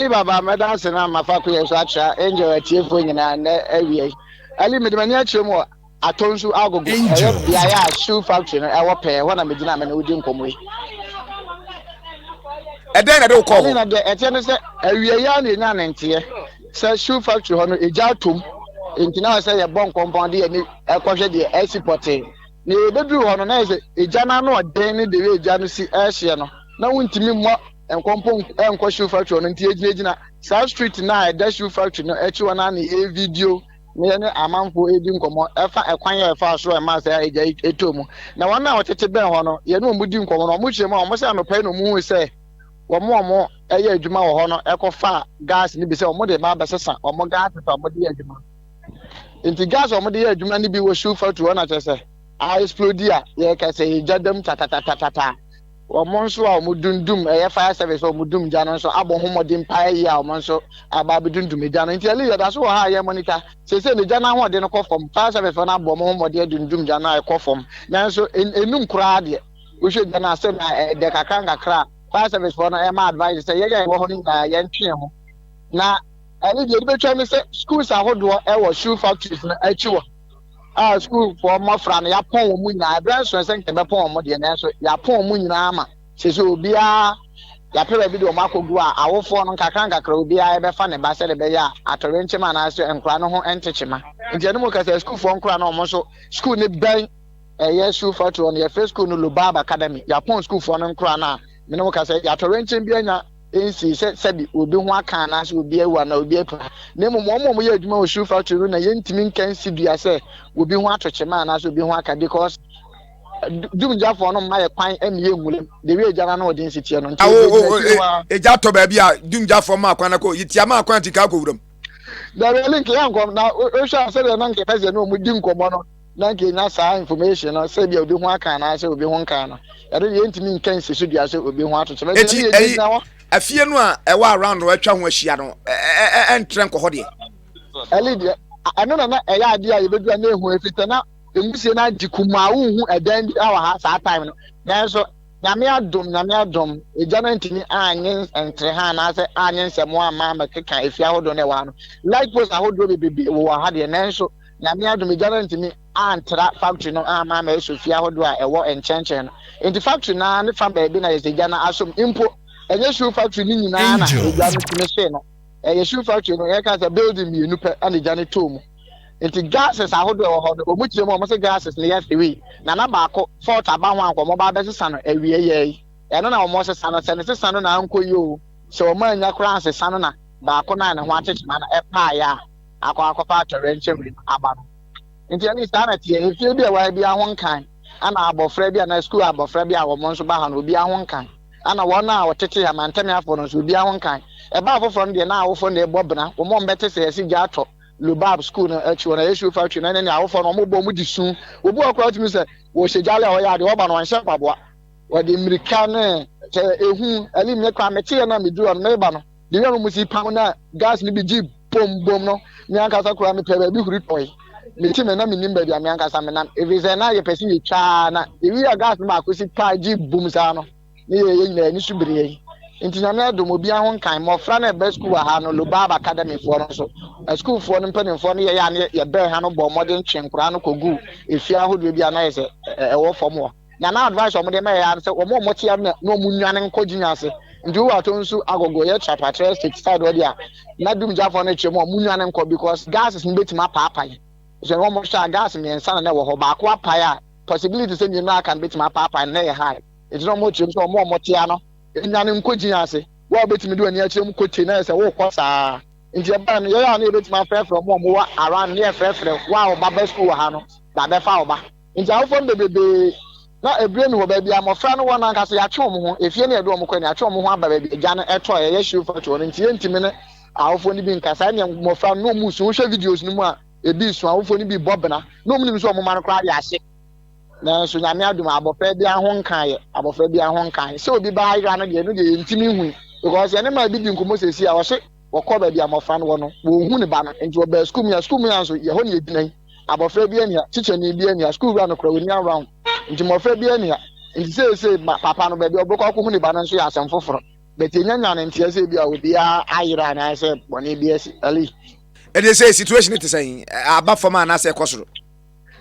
Early Baba, mɛdanse na ama fakoyɛ so atra Angel atiefoɔ nyinaa nnɛ awia yi. Early, mede m'ani akyerɛ mu wɔ Atonsu Agogo, ɛyɛ beaeɛ a Shoe Factory no ɛwɔ pɛɛ, ɛhɔ na megyina a me ne wo di nkɔmmɔ yi. Ɛdɛn na ɛde wo kɔɔ hɔ? Early, na deɛ ɛteɛ ne sɛ awia yi ara na yɛnyaa ne nteɛ sɛ Shoe Factory hɔ no egya atom, enti na ɛwɔ sɛ yɛbɔ nkɔmpɔn de yɛn ani kɔhwɛ deɛ ɛresi pɔtee. Nea yɛbɛduruu hɔ no, na ayɛ sɛ egya no ano yɛ den ne deɛ egya no si rehyeɛ no, na wontumi mmɔ Nkɔ mpo nkɔ shoe factory hɔ no nti yɛgyinagyina saa street no a ɛda shoe factory no akyi hɔ no ara na yɛyɛ video na yɛne amanfoɔ redi nkɔmmɔ ɛfa ɛkwan a ɛfaa so a ɛmaa saa agya yi tɔɔ mu. Na wɔn a wɔtete bɛn hɔ no, yɛne wɔn di nkɔmmɔ no, wɔhyiam a wɔse anɔpa yi na wɔhui sɛ wɔn a wɔyɛ adwuma wɔ hɔ no kɔfaa gas no bi sɛ wɔde reba abɛsesa wɔn gas a wɔde yɛ adwuma. Nti gas a wɔde yɛ adwuma no bi wɔ shoe factory hɔ na kyerɛ sɛ a explode a yɛreka sɛ yɛgya dam tatatatataa. Wɔn nso a wɔdum dum ɛyɛ fire service a wɔdum gya no nso abɔ ho mmɔden paa yie a wɔn nso aba abɛdum dum egya no. Nti Ellie yɛda so wɔ ha a yɛ monitor. Seesei no gya no ahoɔden no kɔ fam. Fire service foɔ no abɔ wɔn ho mmɔden adum dum gya no a ɛkɔ fam. Nanso ɛnum koraa deɛ. Wohwɛ gya no a sɛnea ɛdɛ kakra nkakra a fire service foɔ no ɛma advice sɛ yɛn a yɛwɔ hɔ no nyinaa yɛn twe ho. Na Ellie deɛ yɛde bɛtwa ne sɛ schools ahodoɔ ɛwɔ shoe factories no akyi wɔ. a sukuufoɔ mmɔfra no yɛapɔn wɔn nyinaa berɛ nsoɛ sɛ nka yɛbɛpɔn wɔn deɛ nanso yɛapɔn wɔn nyinaa ma sese obiara yɛapɛ baabi de wɔn akɔgu a awofoɔ no nkakra nkakra obiara yɛbɛfa ne ba sɛdeɛ ɛbɛyɛ a atɔyerɛnkyɛm anaasɛ nkora no ho nte kyema nti ɛno mu kasa sukuufoɔ nkora no wɔn nso sukuu no bɛn ɛyɛ sukuu fatuo no yɛfrɛ sukuu no Lubab Academy yɛapɔn sukuufoɔ no nkora no a mene wo kasa yɛatɔyerɛnkyɛm bi anya nsii sɛ sɛbe obi ho aka anaasɛ obi awu anaa obi apira, na mmom wɔn a wɔyɛ adwuma wɔ Sioux factory no na yɛntumi nka nsi dua sɛ obi ho ato kyema anaasɛ obi ho aka because dumgyafoɔ no mma yɛ kwan ɛmi yɛ nwuram de wi agya no ano ɔde nsi teɛ no nti ɛdi ɛgyina akyiri hɔ a. Egya tɔ baabi a dumgyafoɔ maa kwan akɔ yi tia maa kwan ti ka akɔ wuram. Dabi link yɛ nkɔm na wohwɛ a sɛdeɛ na nkɛpɛ sɛ ne wɔn di nkɔmɔ no. na anka yɛnnya saa information no sɛ bia obi ho aka anaasɛ obi ho nkaa no ɛno deɛ yɛntumi nka nsi so dua sɛ obi ho atokyerɛ nti ɛno deɛ gyina hɔ afie no a ɛwɔ around no atwa ho ahyia no ɛntrɛ nkɔ hɔ deɛ ɛli deɛ ɛno na na ɛyɛ adeɛ a yɛbɛdu a na ɛhu ɛfitɛ na ɛmusie no agye kum a wonhu ɛdan bi wɔ ha saa time no nanso nyame adom nyame adom ɛgya no ntumi anyɛ ntere ha anaasɛ anyɛ nsɛm ama mɛkeka ɛfie ahodoɔ no ɛwɔ ha no light post ahodoɔ bebrebe wɔ ha deɛ nanso Nyame adom egya no anntumi anntra factory no amma ama aeso fie ahodoɔ a ɛwɔ nkyɛnkyɛn no. Enti factory no ara ne fa baabi na yɛsɛ gya no asom. Mpo, ɛnyɛ shoe factory no nyinaa na egya no tumi hyee no. Ɛyɛ shoe factory no, yɛka sɛ building mmienu pɛ na egya no tɔɔ mu. Enti gases ahodoɔ a ɛwɔ hɔ no, wɔn kyerɛ mu a wɔn se gases no yɛ three. Na na baako, fault aba ho a nka wɔn ba abɛsesa no awieɛ yi. Ɛno na wɔn sesa no. Sɛ ne sesa no na ankɔ yie oo, sɛ wɔn annya koraa ansesa no na baako no a ne ho akyekye ma no ɛpaeɛ a, akɔ akɔfa atɔyerɛnkyɛm wim aba no. Enti ɛne saa na ɛteɛ. Efie bi a ɛwɔ ha biara ho nkan, ɛna abɔfra bi anaa sukuu abɔfra bi a wɔn nso ba ha no, obiara ho nkan. Ɛna wɔn a wɔtete ha, Mantamiafoɔ no nso, obiara ho nkan. Ɛbaa afoforɔ no deɛ, na awofoɔ no na ɛbɔ bena. Wɔn a wɔbɛte sɛ yɛse gya tɔ Lubab sukuu no akyi hɔ no, ɛyɛ Shofar Tree no, ɛne ne awofoɔ no, wɔbɔ mu de su. Obi wɔ hɔ koraa a, wotumi hu sɛ wɔhyɛ gyale a wɔyɛ adeɛ, wɔba no wɔnhyɛ mpaboa. Wɔde mmirika ne, sɛ ehu, ɛlim, ne kwan, meteeɛ no a, meduru hɔ no, mereba no. Bere a wɔn si pam na gas no bi gye boom boom no, me ankasa koraa mepɛɛ baabi huri tɔe. Mete me na minnim baabi a me ankasa menam, efisɛ na yɛpɛ sɛ yetwa ara na yewie a gas no baako si pa gye boom saa no, ne yɛn nyinaa ani so bere yɛn. Enti Nyame adom, obiara ho nkae. Mmofra no a ɛba sukuu wɔ ha no, Lubab Academyfoɔ no nso, asukuufoɔ no mpanimfoɔ ne yɛn a na yɛbɛn ha no bɔɔ mmɔden twee nkoraa no koguu afie ahodoɔ bi a na ayɛ sɛ ɛwɔ fam hɔ. na na advice a wɔn de ma yɛ ara ne sɛ wɔn a wɔte ara na wɔn nwane nkɔ gyin ase nti wo ato nsu agogo yɛ trapatrɛ state side hɔ deɛ na dumgyafo no kyerɛ mu wɔn nwane nkɔ because gases no betumi apaapae sɛ wɔn hwɛ a gas mmiɛnsa na na ɛwɔ hɔ baako apae a possibility sɛ mmienu aka no betumi apaapae no na ɛyɛ high nti na wɔn kyerɛ mu sɛ wɔn a wɔte ara no nwane nkɔ gyin ase wo a wobɛtumi de w'ani akyerɛ mu kote na yɛ sɛ wokɔ saa nti ɛbaa no yɛyɛ a na yɛbɛtumi afrɛfrɛ wɔn a wɔwɔ around ne yɛfrɛfrɛ wo a wo ba ba sukuu wɔ ha no ba bɛfa wo ba Enti awofo no bebrebe na ɛbire no wɔ baabi a mmɔfra no wɔ no ankasa. Yɛatwe wɔn ho, efie na yɛde wɔn kɔ, na yɛatwe wɔn ho aba baabi a agya no tɔ a ɛyɛ hyew fatu hɔ no. Enti yɛrentumi ne awofo no bi nkasa. Ɛnneɛ mmɔfra no, na wɔn resu. Wohwɛ videos no mu a, ebi resu. Awofo no bi rebɔ bena. Na wɔnim sɛ wɔn mma no koraa de ahye. Nanso Nyame adom a, abɔfra biara ho nkaeɛ. Abɔfra biara ho nkaeɛ. Sɛ obi ba ha yera no deɛ, ɛno deɛ yɛntumi nhui, because yɛne mmaa bi di nkɔmmɔ seesei a, ɔhye. Wɔkɔɔ baabi a mmofra no wɔ no, wonhu ne ba no, enti wɔbaa sukuu mu a sukuu mu a nso yɛ hɔ na egyina yi. Abofra biara nni ha, tikyani biara nni ha, sukuu wura no koraa onni ha round nti mmofra biara nni ha. Enti seesei ma papa no baabi a ɔbɛkɔ akohu ne ba no nso yɛ asɛm foforo. But yɛnnya nyaa no nteɛ sɛ ebia obiara ayera anaasɛ bɔne bi asi. Ellie. Ɛnde sei situation te sɛn? Aba fam anaasɛ ɛkɔ soro?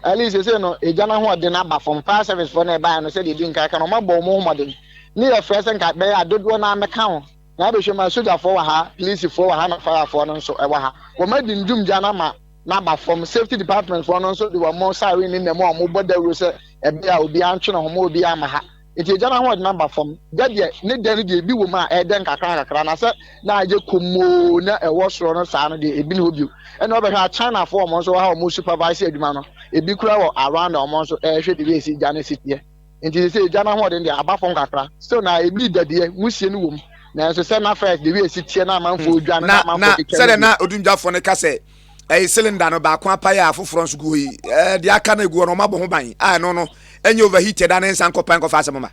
Ellie, Seesei no egya no ahoɔden aba fam. Fire service foɔ no a ɛbaeɛ no sɛdeɛ ɛdi nkan ka no wɔabɔ wɔn ho mmɔden ne yɛfrɛ sɛ nka ɛbɛyɛ a dodoɔ no ara mmɛka ho. Na ebɛhwɛ mu a, sogyafoɔ wɔ ha, plisifoɔ wɔ ha na fayafoɔ no nso wɔ ha. Wɔn adi ndwum gya no ama no aba fɔm. Safety department foɔ no nso de wɔn siren ne nnamu a wɔn bɔ dawuro sɛ ɛbɛyɛ a obiara ntwe ne ho mma obiara mma ha. Nti egya no ahoɔden aba fɔm. Gya deɛ ne dɛ no deɛ ebi wɔ mu a ɛɛdɛ nkakra nkakra na sɛ na ayɛ komm oo na ɛwɔ soro no saa no deɛ ebi nni hɔ bio. Ɛna wobɛhwɛ a China foɔ wɔn nso wɔ ha a wɔn supervise adwuma no. Ebi koraa wɔ around a wɔn nso ɛɛhwɛ biribi a esi gya no si teɛ. Enti seesei egya no ahoɔden de aba fam kakra. Still na ebi dadeɛ, wusie no wom. Nanso sɛ na first de wiase teɛ na amanfoɔ hmm. dwane na, na amanfoɔ keka sɛdeɛ na odumgyafoɔ no ka sɛ ɛyɛ cylinder no baako apae a afoforɔ nso gu hɔ yi ɛɛ deɛ aka no egu hɔ no wɔn abɔ ho ban a ɛno no ɛnyɛ overheat ɛda ne nsa nkɔpan nkɔfa asɛm ma.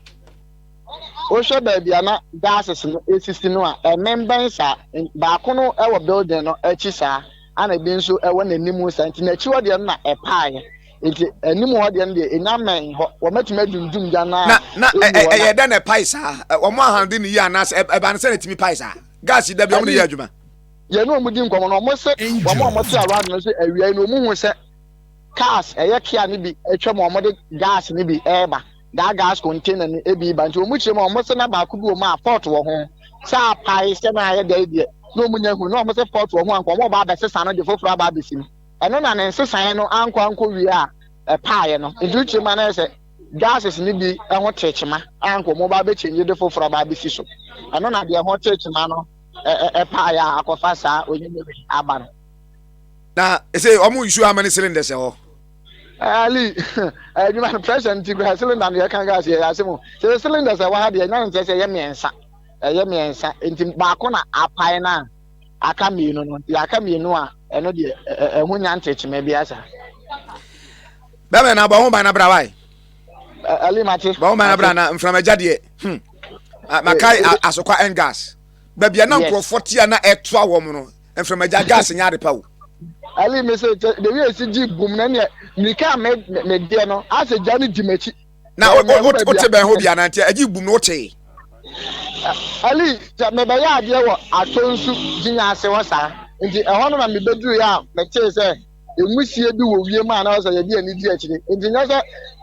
wohwɛ baabi a na gases no esisi no a ɛmembɛn saa baako no ɛwɔ building no akyi saa ana ebi nso ɛwɔ n'anim saa nti n'akyi hɔ deɛ no na ɛpaeɛ. nti anim hɔ deɛ no deɛ ɛnya mmɛn hɔ wɔmɛtumi adundum gya no a na ɛyɛ dɛ na ɛpae saa wɔn ahande ne yi anaasɛ ɛba no sɛ na ɛtumi pae saa gas yi da bi wɔn ne yɛ adwuma yɛn ne wɔn di nkɔmɔ no wɔn se wɔn a wɔte around no sɛ awia yi na wɔn hu sɛ cars ɛyɛ kia no bi atwa mu wɔn de gas no bi ɛreba daa gas container no ebi ba nti wɔn kyerɛ mu wɔn se na baako bi wɔ mu a fault wɔ ho sɛ apae sɛ na ayɛ dɛ deɛ na wɔn nya hu na wɔn se fault wɔ ho anka wɔn ɔba abɛsesa no de foforɔ aba abɛsi mu. Ɛno na ne nsesaeɛ no ankɔ ankɔwie a ɛpaeɛ no. Nti wotie mu a na ayɛ sɛ gases no bi ho tee kyema a anka wɔn bɛaba abɛkyɛngye de foforɔ aba abɛsi so. Ɛno na deɛ ɛho tee kyema no paeɛ a akɔfa saa onyini wei aba no. Na ɛsɛ wɔn nsuo ama ne cylinders ɛhɔ. Ali, adwuma no pressure nti kura cylinder no yɛka gas yɛ ase mu. Sɛ cylinders ɛwɔ ha deɛ ɛnya nsɛ sɛ ɛyɛ mmiɛnsa. Ɛyɛ mmiɛnsa nti baako na apae no a. aka mmienu no deɛ aka mmienu a ɛno deɛ ɛho nya ntekyema biara saa. bɛbɛ na bɔ ho ban na bra wae. ɛli mate. bɔ ho ban na bra na nframagya deɛ hmm makae eh, eh, eh. asokwa and gas baabi a na nkurɔfoɔ te a na ɛtoa wɔn no nframagya gas nyɛ ade pa o. ɛli mi sɛ dewi esi gyi bum na neɛ nika mi mi deɛ no asɛ gya no gyi m'akyi. na wote bɛn hɔ biara nti agye bum no wokyee ali sɛ mebɛyɛ adeɛ wɔ atɔ nsu gyinya ase hɔ saa nti ɛhɔ no na mebɛdurui a metee sɛ ɛmusie bi wɔ wiem a na wɔ sɛ yɛde ani di akyire nti nyɛ sɛ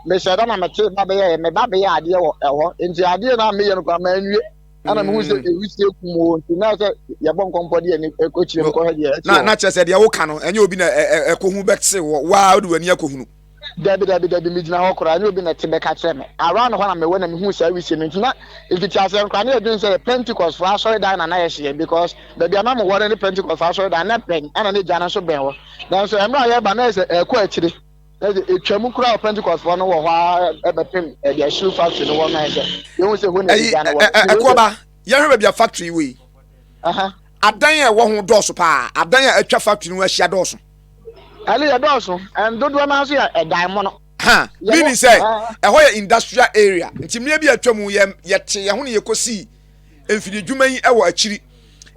mehyɛ da na metee ba bɛyɛɛ me ba bɛyɛ adeɛ wɔ ɛhɔ nti adeɛ na meyɛ no kora manwie ana mehu sɛ mm. ɛwusie kum wɔ nti na sɛ yɛbɔ nkɔmpɔ deɛ ne ɛkɔkyire mkɔhɛ deɛ ɛte na kyerɛ sɛ deɛ woka no ɛnyɛ obi na ɛkɔhu bɛte wɔ waa wode w'ani akɔhunu Dabi, dabi, dabi, megyina hɔ koraa, ɛnyɛ obi na ɛte bɛka kyerɛ me. Around hɔ na mewɔ na mihuu saa wisie no. Nti na mfitiaseɛ no koraa na yɛdwene sɛ yɛ Pentecostfoɔ asɔredan na na yɛhyɛ yɛn because baabi a na mewɔ no ne Pentecostfoɔ asɔredan na ɛbɛn ɛna ne gya no nso bɛn hɔ. Nanso mmerɛ a yɛreba no na ayɛ sɛ ɛrekɔ akyire. Na ɛde ɛtwam koraa wɔ Pentecostfoɔ no wɔ hɔ ara bɛpem baabi a shoe factory no wɔ no na ayɛ sɛ yɛhu sɛ ɛhɔ na ɛde gya no wɔ. Ɛyi, Ɛkoɔba, yɛhwɛ baabi a factory wɔ yi. Aha. Adan a ɛwɔ ho dɔɔso paa, adan a atwa factory no ahyia dɔɔso. Ɛno yɛ dɔɔso, ɛn dodoɔ naa so yɛ ɛdan mono. Ha, meaning sɛ ɛhɔ yɛ industrial area, nti mmerɛ bi a atwa mu yɛ yɛte yɛn ho na yɛkɔ sii mfidie dwuma yi wɔ akyiri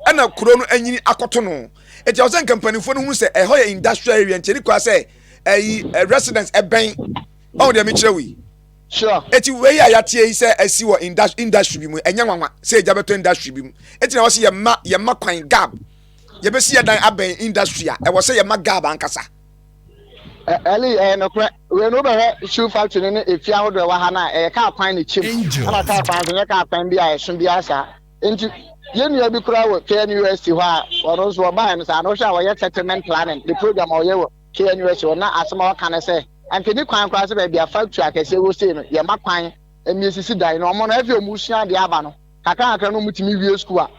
ɛna kuro no anyini akɔto no. Nti ɛwɔ sɛ nka mpanimfoɔ no hunu sɛ ɛhɔ yɛ industrial area nti ɛni kwa sɛ ɛyi residence ɛbɛn ɔn deɛ mekyerɛ wo yi. Sure. Eti wei a yɛateɛ yi sɛ asi wɔ industry bi mu ɛnyɛ nwanwa sɛ ɛgya bɛtɔ industry bi mu. Eti na wɔsi yɛ mma yɛ mma kwan gab. Yɛbɛsi yɛn dan abɛn industry a, ɛwɔ sɛ yɛma gab ankasa. Ɛ Ɛli, ɛyɛ nokorɛ. Wei no, wobɛhwɛ shoe factory no ne efie ahodoɔ a ɛwɔ ha no a, ɛyɛ kaa kwan na ɛkyɛm. Ɛna kaa kwan nso, ɛnyɛ kaa kwan bi a ɛso biara saa. Enti, yɛn nua bi koraa wɔ KNUST hɔ a, ɔno nso, ɔbaeɛ no saa, na wohwɛ a, ɔyɛ settlement planning, ne program a ɔyɛ wɔ KNUST hɔ no, na asɛm a ɔka ne sɛ, anka ɛnni kwan koraa sɛ baabi a factory akɛseɛ wɔ sei no, yɛma kwan ma ɛsisi dan. Na wɔn no, afei wɔresua adeɛ aba no, kakra kakra na wɔtumi wie sukuu a,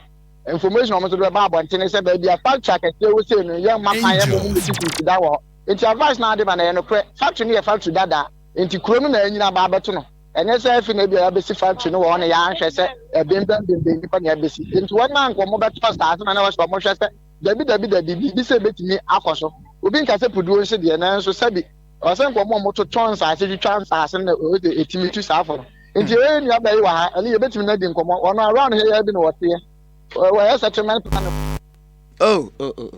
Information a wɔn nso de bɛba abɔnten ne sɛ baabi a factory akɛseɛ wɔ sei no yɛ mma kwan yɛ mo mu sisi nsi da wɔ hɔ nti advice na ade ma na ɛyɛ nokorɛ factory no yɛ factory dadaa nti kuro no na anyini aba abɛto no ɛnyɛ sɛ afi na ebi a yɛabɛsi factory no wɔ hɔ no yɛanhwɛ sɛ ɛbembɛn bembɛn nipa na ɛbɛsi nti wɔn na nka wɔn bɛtɔ asaase ma na wɔsɛ wɔn hwɛ sɛ dabi dabi dabi biribi sɛ ebetumi akɔ so obi nka sɛ puduo nhye deɛ nanso sɛbi Ɔsɛ nka ɔmo a ɔmo totɔ nsaase twitwa nsaase no na ɔyɛ de etimi tu saa fo no nti yɛyɛ yɛ nua bɛɛ yi wɔ ha ɛne yɛ bɛtimi no adi nkɔmɔ wɔn around here yɛɛ bi na wɔteɛ wɔyɛ settlement planning. Oh oh oh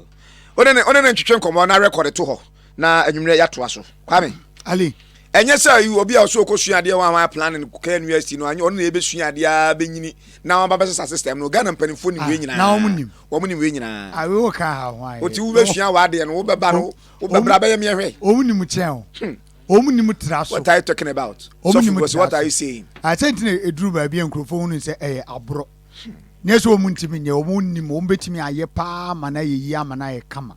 ɔne ne ɔne ne ntwitwe nkɔmɔ na record to hɔ na anwummerɛ yɛatoa so kwame ali ɛnyɛ sɛ yi obi a ɔsɛ ɔkɔsua adeɛ wɔn a wɔayɛ planning kɔkɛ nu asi no anyɛ ɔno na yɛbɛsua adeɛ a bɛnyini na wɔn ababɛsesa system no ghana mpanimfoɔ nim wei ah, nyinaa na wɔn nim wɔn nim wei nyinaa awe ah, wɔ ka ha ho ayɛ wɔti wobɛsua wɔ adeɛ no wobɛba no Wo bɛbra bɛyɛ meɛ hwɛ. Omu ni mu kyɛn o. Hmm. Omu ni mu tra so. What are you talking about? Omu ni mu tra so. What are you saying? Asɛ ah, ntina eduru baabi a nkurɔfoɔ hunu sɛ ɛyɛ aborɔ. Hmm. Nyɛ sɛ wɔn ntumi nyɛ wɔn nnim wɔn bɛtumi ayɛ paa ma no ayɛ yie ama no ayɛ kama.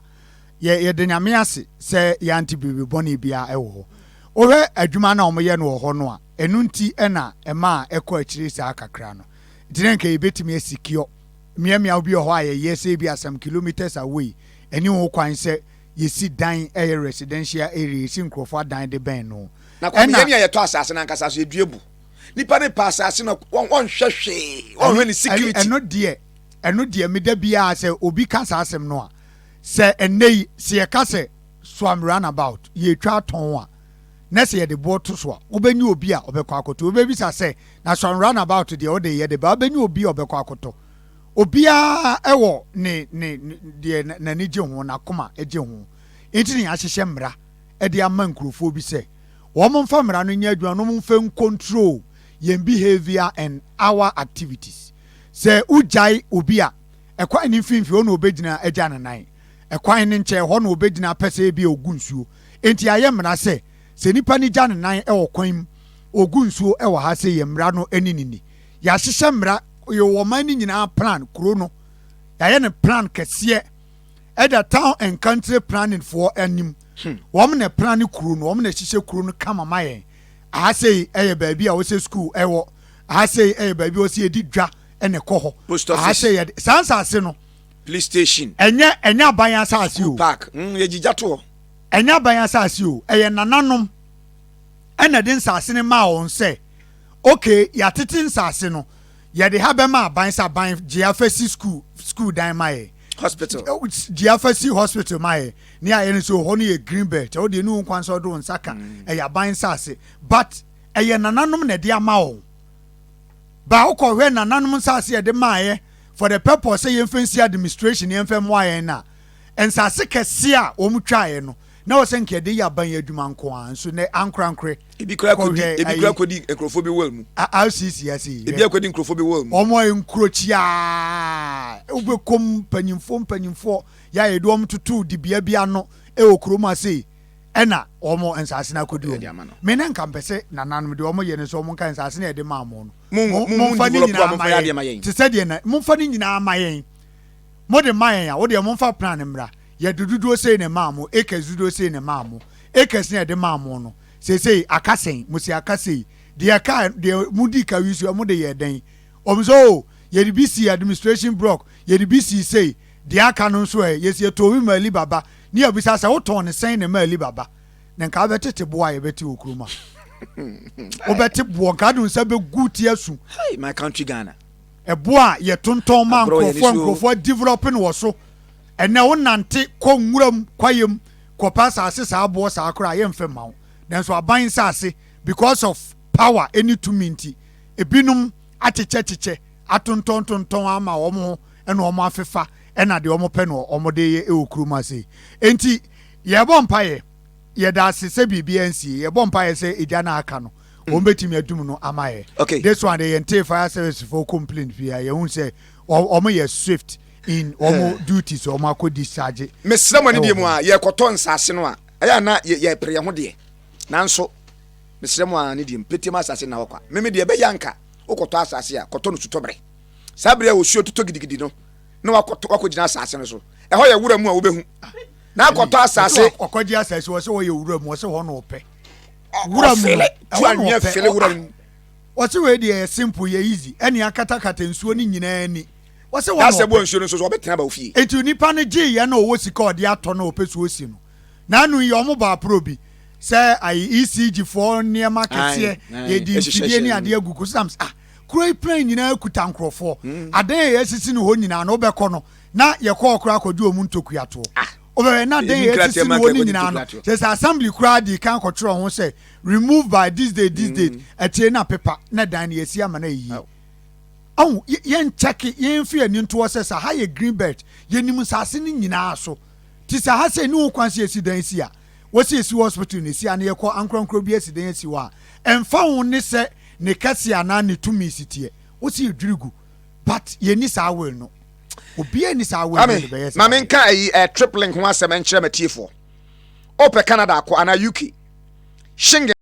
Yɛ yɛde nyame ase sɛ yɛante biribi bɔne biara ɛwɔ hɔ. Wohwɛ adwuma no a wɔyɛ no wɔ hɔ no a ɛno nti ɛna ɛma a ɛkɔ akyire saa kakra no. Nti na nka yɛbɛtumi asikiɔ Mmeaemmeaw bi wɔ hɔ a yɛyɛ sɛ ebia some kilometres away, ɛne ho kwan sɛ yesi dan ɛyɛ residential area, yesi nkurɔfo adan de bɛn no. Na kɔ meyɛ nea yɛtɔ asase no ankasa so, yɛdua bu. Nipa no pɛ asase no a, wɔnhwɛ hwee, wɔnhwɛ ne security. Ɛno deɛ, ɛno deɛ meda biara sɛ obi ka saa asɛm no a, sɛ ɛnnɛ yi, sɛ yɛka sɛ some runabout, yɛretwa atɔn a, na sɛ yɛde boɔ to so a, wobɛnya obi a ɔbɛkɔ akɔtɔ. Wobɛbisa sɛ, na so run about deɛ wode yɛ de ba? Wobɛnya obi a ɔbɛkɔ akɔtɔ. Obiara wɔ ne ne deɛ n'ani gye ho, n'akoma gye ho. Nti ne yɛahyehyɛ mmara de ama nkurɔfoɔ bi sɛ wɔn mfa mmara no nyɛ adwuma na wɔn mfa ncontrol yɛn behaviour and our activities. Sɛ wogyae obi a, ɛkwan no mfimfini hɔ na ɔbɛgyina agya ne nan. Ɛkwan no nkyɛn hɔ na ɔbɛgyina pɛsɛɛ bi a ɔgu nsuo. Enti ayɛ mmara sɛ, sɛ nipa no gya ne nan wɔ kwan mu, ogu nsuo wɔ ha sɛ yɛn mmara no ne no ni. Yɛahyehyɛ mmara, yɛwɔ ɔman no nyinaa plan, kuro no, yɛayɛ no plan kɛseɛ, ɛda town and country planning foɔ anim. Hmm. Wɔn na plan ne kuro no, wɔn na ɛhyehyɛ kuro no kama ma yɛn. Aha sei ɛyɛ baabi a wɔsɛ school ɛwɔ, aha sei ɛyɛ baabi a wɔsɛ yɛdi dwa ɛna ɛkɔ hɔ. Post office. Aha sei yɛde, saa nsaase no, Plistation. Ɛnyɛ ɛnyɛ aban asase o. Park mm yɛ gyigya to hɔ. Ɛnyɛ aban asase o ɛyɛ nananom ɛna ɛde nsase no maa wɔn sɛ okay yɛatete nsase no yɛde ha bɛma aban sɛ aban gye afa si school school dan ma yɛ. Hospital. Gye afa si hospital ma yɛ ne ayɛ no sɛ hɔ no yɛ green belt ɛwɔ deɛ ne wo nkwan sɛ ɔde wo nsa ka mm. ɛyɛ aban nsase but ɛyɛ nananom na ɛde ama wɔn baa wokɔhwɛ nananom nsase ɛde maaeɛ for the purpose sɛ yɛmfa nsi administration yɛmfa mmoa yɛn no a nsase kɛse a wɔn twaeɛ no na wɔ sɛ nka yɛde yɛ aban yɛ adwuma nko a nso nɛ ankorankore ebi kura kɔdi ebi kura kɔdi nkurɔfoɔ bi wɔl mu rcc ase yi ebi akɔdi nkurɔfoɔ bi wɔl mu wɔn a nkurokyi a wobɛkɔm mpanyinfoɔ mpanyinfoɔ yɛ a yɛde wɔn toto dibea bi ano ɛwɔ kurom ase yi ɛna wɔn nsase no akɔdi wɔn me ne nka mpɛ sɛ nananom deɛ wɔn yɛ no sɛ wɔn nka nsase no yɛde maa mo no momfa ne nyinaa ma yɛn te sɛ deɛ na momfa ne nyinaa ma yɛn mode ma yɛn a wodeɛ momfa plan no mmra yɛde dodoɔ sei na ɛmaa mo acres dodoɔ sei na ɛmaa mo acres na ɛde maa mo no seesei aka sɛn mo si aka sei deɛ ɛka deɛ modi ka wi so ɛmo de yɛ dɛn ɔm sɛ o yɛde bi si administration block yɛde bi si sei deɛ aka no nso ɛ yɛsi ɛtɔɔ bi ma Ali Baba ne yɛbisa sɛ wotɔn ne sɛn na ɛma Ali Baba na nka wobɛtete boɔ a yɛbɛte wɔ kurom a wobɛte boɔ nka wode nsa bɛgu ti asu my country ghana ɛboɔ a yɛtontɔn ma nkurɔfoɔ a nkurɔfoɔ develop no wɔ so ɛnɛ wonante kɔ nwuram kwayam kɔpɛ asase saa boɔ saa koraa a yɛmfɛ mma wo nanso aban nsase because of power ɛne tumi nti ebinom akyekyɛkyekyɛ atontɔntontɔn ama wɔn ho ɛna wɔn afefa ɛna deɛ wɔn pɛ no wɔn de yɛ ɛwɔ kurom ase nti Yɛbɔ mpaeɛ, yɛda ase sɛ biribiara nsie, yɛbɔ mpaeɛ sɛ egya no a aka no wɔn bɛtumi adum no ama yɛ. Okay. This one deɛ yɛn tee fire service fo complain pii a yɛn hu sɛ wɔn yɛ swift in wɔn eh. duty so wɔn akɔ discharge. Mesrɛ mo ne deɛ mu a yɛkɔtɔ nsaase no a ɛyɛ na yɛpere yɛn ho deɛ nanso mesrɛ mo a ne deɛ mu pete mu asase na hɔ kwa meme deɛ ɛbɛyɛ anka wokɔtɔ asase a kɔtɔ no sutɔberɛ saa berɛ a osuo totɔ gidigidi no na wakɔgyina asase no so ɛhɔ yɛ wura mu a wobɛhu na akɔtɔ asase. ɔkɔgye asase wɔ sɛ wɔyɛ wura mu ɔsɛ hɔ na ɔpɛ wura mu no tu anwea fele wura mu wɔsɛ wei deɛ yɛ simple yɛ easy ɛne akatakata nsuo no nyinaa ni wɔsɛ wɔn asɛ bɔ nsuo no nso so ɔbɛtena ba ofie eti nipa no gye yɛ na ɔwɔ sika ɔde atɔ na ɔpɛ so osi no na anu yɛ ɔmo ba aporo bi sɛ ayi ecg foɔ nneɛma kɛseɛ yɛdi mfidie ne adeɛ agugu so nam sɛ ah kuro yi plan nyinaa kuta nkorɔfoɔ hmm. adan yɛ sisi no hɔ nyinaa na ɔbɛkɔ no na yɛkɔɔ koraa kɔdi wɔn ntokuatoɔ. Ah! Wobɛhwɛ na dɛn yɛ ti si no wɔ ne nyinaa no. Kyerɛ sɛ assembly koraa dii kan kɔtwerɛ ho sɛ remove by this date this date. Mm. Akyire na pepa na dan no yɛsi ama no ayɛ yie. Ahu yɛnkyɛke yɛmfi ani ntoɔ sɛ sɛ ha yɛ green belt yɛnim nsase no nyinaa so. Ti sɛ ha sɛ ɛni ho kwan sɛ yɛsi dan asi a wɔsi asi wɔ hospital no asi a na yɛkɔ ankorankoro bi asi dan asi hɔ a ɛmfa ho ne sɛ ne kɛse anaa ne tumi si teɛ wɔsi yɛdwiri gu. but yɛni saa will no obiara ni saa will no de bɛyɛ saa maame nka ayi ɛ eh, trip link ho asɛm nkyerɛ m'atiefoɔ ɔpɛ canada akɔ anaa uk shingle